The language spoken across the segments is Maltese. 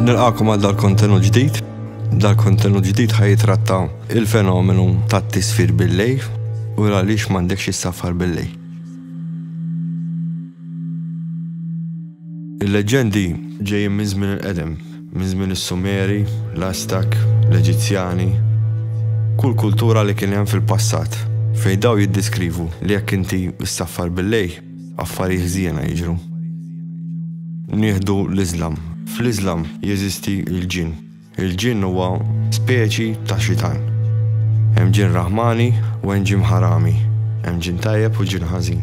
Nilqakom għal dal-kontenut ġdid. Dal-kontenut ġdid ħajitratta il-fenomenu ta' tisfir bil-lej u għaliex m'għandekx issafar bil-lej. Il-leġendi ġejjin minn żmien il-qedem. Minn żmien is-Sumeri, l-Aztek, l-Eġizzjani, kull kultura li kien hemm fil-passat, fejn dawn jiddeskrivu li jekk inti ssaffar bil-lejl, affarijiet ħżiena jiġru. Nieħdu l-Iżlam. Fl-Iżlam jeżisti l-ġinn. Il-ġinn huwa speċi ta' xitan. Hemm ġinn Raħmani u hemm ġinn Ħarami. Hemm ġinn tajjeb u ġinn ħażin.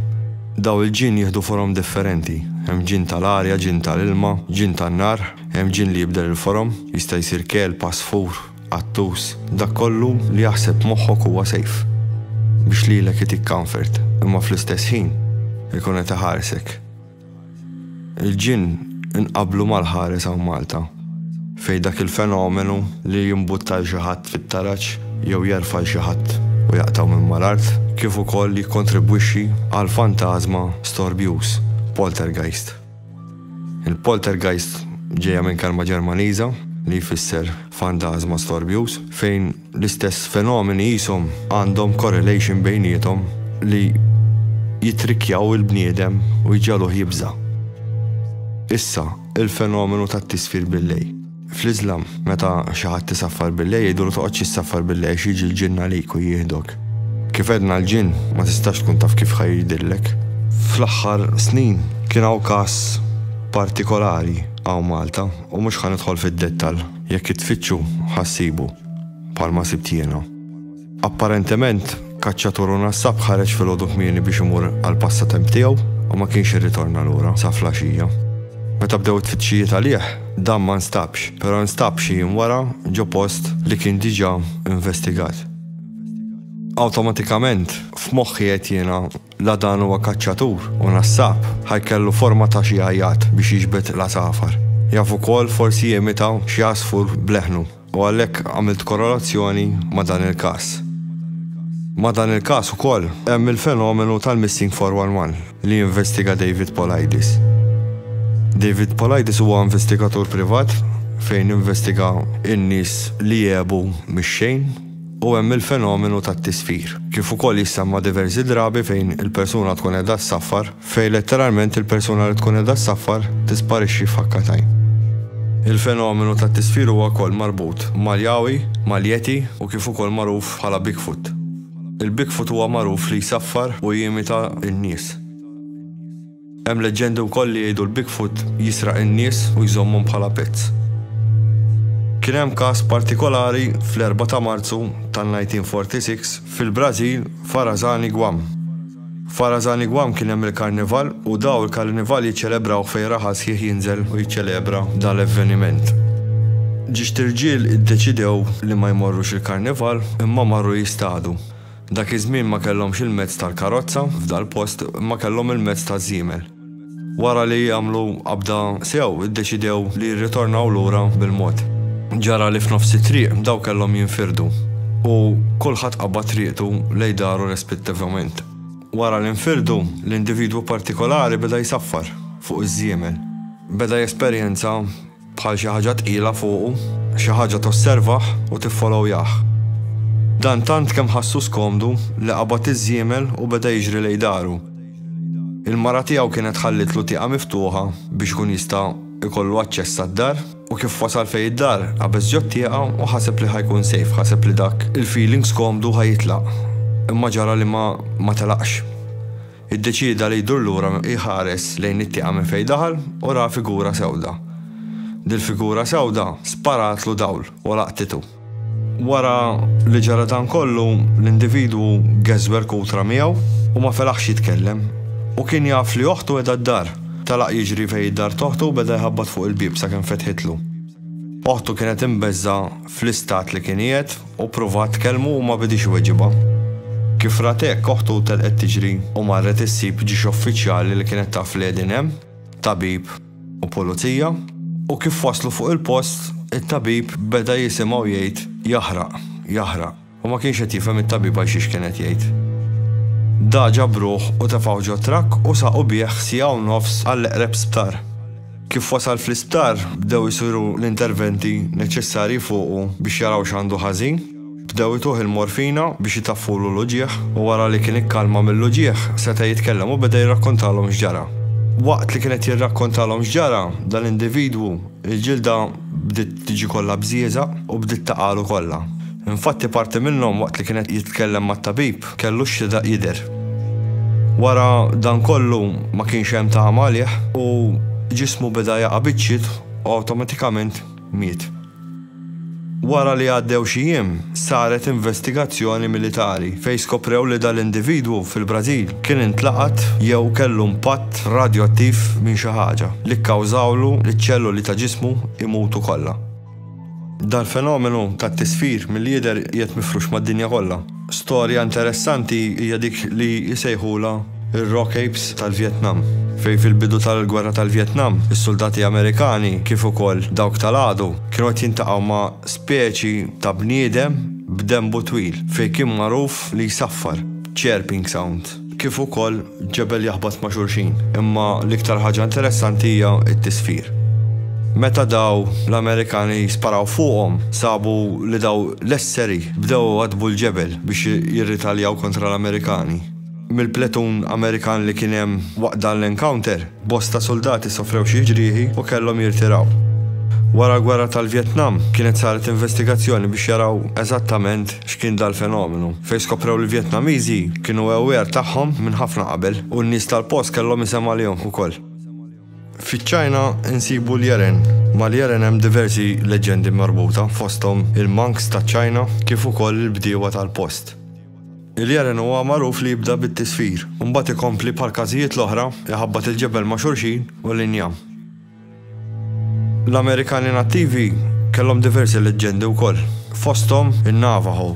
Dawn il-ġinn jieħdu forom differenti. Hemm ġinn tal-arja, ġinn tal-ilma, ġinn tan-nar, hemm ġinn li jibdel il-forom, jista' jsir kelb, għasfur, qattus, dak kollu li jaħseb moħħok huwa sejf biex lilek itik comfort imma fl-istess ħin ikun qed iħarsek. Il-ġinn inqablu mal-ħares hawn Malta, fejn dak il-fenomenu li jimbutta 'l xi ħadd fit-taraġ jew jerfa' 'l xi ħadd u jaqtgħu minn mal-art, kif ukoll jikkontribwixxi għal fantażma storbjuż, poltergeist. Il-poltergeist ġejja minn kelma Ġermaniża li jfisser fantażma storbjuż, fejn, L-istess fenomeni qishom għandhom correlation bejniethom li jittrikkjaw il-bniedem u jġagħluh jibża'. Issa, il-fenomenu tat-tisfir bil-lej. Fl-Iżlam, meta xi ħadd isaffar bil-lej jgħidulu toqgħodx issaffar bil-lej għax jiġi l-ġinn għalik u jieħdok. Kif għedna l-ġinn ma tistax tkun taf kif ħa jgħidillek. Fl-aħħar snin kien hawn każ partikolari hawn Malta u mhux ħa nidħol fid-dettall. Jekk tfittxu ħa ssibu, bħalma sibt jiena. Apparentement, kaċċatur u nassab ħareġ filgħodu kmieni biex imur għall-passatemp tiegħu u ma kienx irritorna lura sa flaxija. Meta bdew it-tfittxijiet għalih, dan ma nstabx, però nstab xi jiem wara ġo post li kien diġà investigat. Awtomatikament, f'moħħi għedt jiena La dan huwa kaċċatur u nassab, ħa jkellu forma ta' xi għajjat biex jiġbed l-għasafar. Jaf ukoll forsi jimita xi għasfur b'leħnu u għalhekk għamilt korrelazzjoni ma' dan il-każ. Ma' dan il-każ ukoll hemm il-fenomenu tal-Missing 411 li jinvestiga David Politis. David Politis huwa investigatur privat fejn investiga n-nies li jegħbu mix-xejn. u hemm il-fenomenu tat-tisfir, kif ukoll jissemma diversi drabi fejn il-persuna tkun qiegħda ssaffar, fejn letteralment il-persuna li tkun qiegħda ssaffar tisparixxi f'ħakka t'għajn. Il-fenomenu tat-tisfir huwa wkoll marbut mal-Yowie, mal-Yeti u kif ukoll magħruf bħala Bigfoot. Il-Bigfoot huwa magħruf li jsaffar u jimita n-nies. Hemm leġġendi wkoll li jgħidu l-Bigfoot jisraq in-nies u jżommhom bħala pets. Kien hemm każ partikolari fl-Erbgħa ta' Marzu tan-1946 fil-Brażil f'Arazani Guam. F'Arazani Guam kien hemm il-Karnival u daw il-Karnival jiċċelebrawh fejn raħal sħiħ jinżel u jiċċelebra dan l-evveniment. Ġiext irġiel iddeċidew li ma jmorrux il-Karnival imma marru jistadu. Dak iż-żmien ma kellhomx il-mezz tal-karozza, f'dal-post imma kellhom il-mezz taż-żiemel. Wara li għamlu qabda sew, iddeċidew li jirritornaw lura bil-mod. Ġara li f'nofs it-triq daw kellhom jinfirdu u kulħadd qabad triqtu lejn daru respittivament. Wara li nfirdu, l-individwu partikolari beda jsaffar fuq iż-żiemel. Beda jesperjenza bħal xi ħaġa tqila fuqu, xi ħaġa tosservah u tiffolowjah. Dan tant kemm ħassu skomdu li qabad iż-żiemel u beda jiġri lejn daru. Il-mara tiegħu kienet ħallitlu tieqa miftuħa biex ikun jista' jkollu aċċess għad-dar u kif wasal fejn id-dar qabeż ġot-tieqa u ħaseb li ħa jkun safe, ħaseb li dak il-feeling skomdu ħa jitlaq. Imma ġara li ma telaqx. Iddeċieda li jdur lura jħares lejn it-tieqa minn fejn daħal u ra figura sewda. Dil-figura sewda sparatlu dawl u laqtitu. Wara li ġara dan kollu, l-individwu geżwer kutra miegħu u ma felaħx jitkellem. Hu kien jaf li oħtu qiegħda d-dar. Telaq jiġri fejn id-dar t'oħtu u beda jħabbat fuq il-bieb sakemm fetħitlu. Oħtu kienet imbeżżgħa fl-istat li kien qiegħed Hu prova tkellmu u ma bidiex iweġibha. Kif rat hekk, oħtu telqet tiġri u marret issib ġiex uffiċjali li kienet taf li qegħdin hemm, tabib u pulizija, u kif waslu fuq il-post, it-tabib beda jisimgħu jgħid jaħraq, jaħraq, u ma kienx qed jifhem it-tabib għalxiex kien qed jgħid. Daġa b'ruħ u tefgħu ġo trakk u saqu bih siegħa u nofs għall-eqreb sptar. Kif wasal fl-isptar, bdew isiru l-interventi neċessarji fuqu biex jaraw x'għandu ħażin. Bdew ituh il-morfina biex itaffulu l-uġigħ u wara li kien ikkalma mill-uġigħ seta' jitkellem u beda jirrakkontalhom x'ġara. Waqt li kien qed jirrakkontalhom x'ġara, dal-individwu, il-ġilda bdiet tiġi kollha bżieżaq u bdiet taqagħlu kollha. Infatti parti minnhom waqt li kien qed jitkellem mat-tabib, Kellu x'ridaq jidher. Wara dan kollu ma kienx hemm tama għalih u ġismu beda jaqa' biċċiet u awtomatikament miet. Wara li għaddew xi jiem, saret investigazzjoni militari fejn skoprew li dal-individwu fil-Brażil kien intlaqat jew kellu impatt radjoattiv minn xi ħaġa li kkawżawlu li ċ-ċelloli ta' ġismu jmutu kollha. Dal-fenomenu tat-tisfir mill-jidher qiegħed mifrux mad-dinja kollha. Storja interessanti hija dik li jsejħulha r-Rock Apes tal-Vjetnam, fejn fil-bidu tal-Gwerra tal-Vjetnam, is-suldati Amerikani, kif ukoll dawk tal-għadu, kienu qed jiltaqgħu ma' speċi ta' bniedem b'denbu twil, fejn kien magħruf li jsaffar, chirping sound. kif ukoll ġebel jaħbat ma' xulxin. Imma l-iktar ħaġa interessanti hija t-tisfir. Meta daw l-Amerikani sparaw fuqhom, sabu li daw l-esseri bdew iwaddbu l-ġebel biex jirritaljaw kontra l-Amerikani. Mill-pletun Amerikan li kien hemm waqt dan l-encounter, Bosta suldati sofrew xi ġrieħi u kellhom jirtiraw. Wara l-Gwerra tal-Vjetnam, kienet saret investigazzjoni biex jaraw eżattament x'kien dal-fenomenu, fejn skoprew li l-Vjetnamiżi kienu aware tagħhom minn ħafna qabel u n-nies tal-post kellhom isem għalihom ukoll. Fiċ-Ċina nsibu l-Yeren. Mal-Yeren hemm diversi leġġendi marbuta, fosthom il-monks taċ-Ċina kif ukoll il-bdiewa tal-post. Il-jaren huwa magħruf li jibda bit-tisfir u mbagħad ikompli bħall-każijiet l-oħra iħabbat il-ġebel ma' xulxin u l-injam. L-Amerikani Nattivi kellhom diversi leġġendi wkoll, fosthom in-Navajo.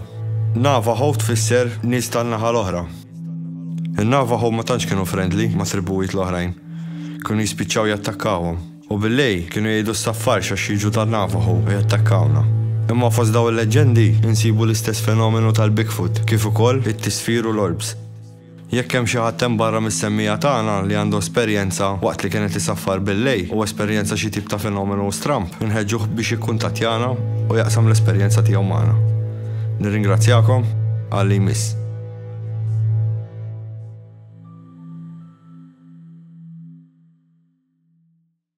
Navajo tfisser nies tan-naħa l-oħra. In-Navajo ma tantx kienu friendly mat-tribujiet l-oħrajn. Kienu jispiċċaw jattakkawhom. U bil-lejl kienu jgħidu s-saffarx għax jiġu tan-Navajo u jattakkawna. Imma fost dawn il-leġġendi insibu l-istess fenomenu tal-Bigfoot kif ukoll it-tisfir u l-orbs. Jekk hemm xi ħadd hemm barra mis-semmiegħa tagħna li għandu esperjenza waqt li kien qed isaffar bil-lejl u esperjenza xi tip ta' fenomenu stramb, inħeġġuh biex jikkuntattjana u jaqsam l-esperjenza tiegħu magħna. Nirringrazzjakom, għal li jmiss.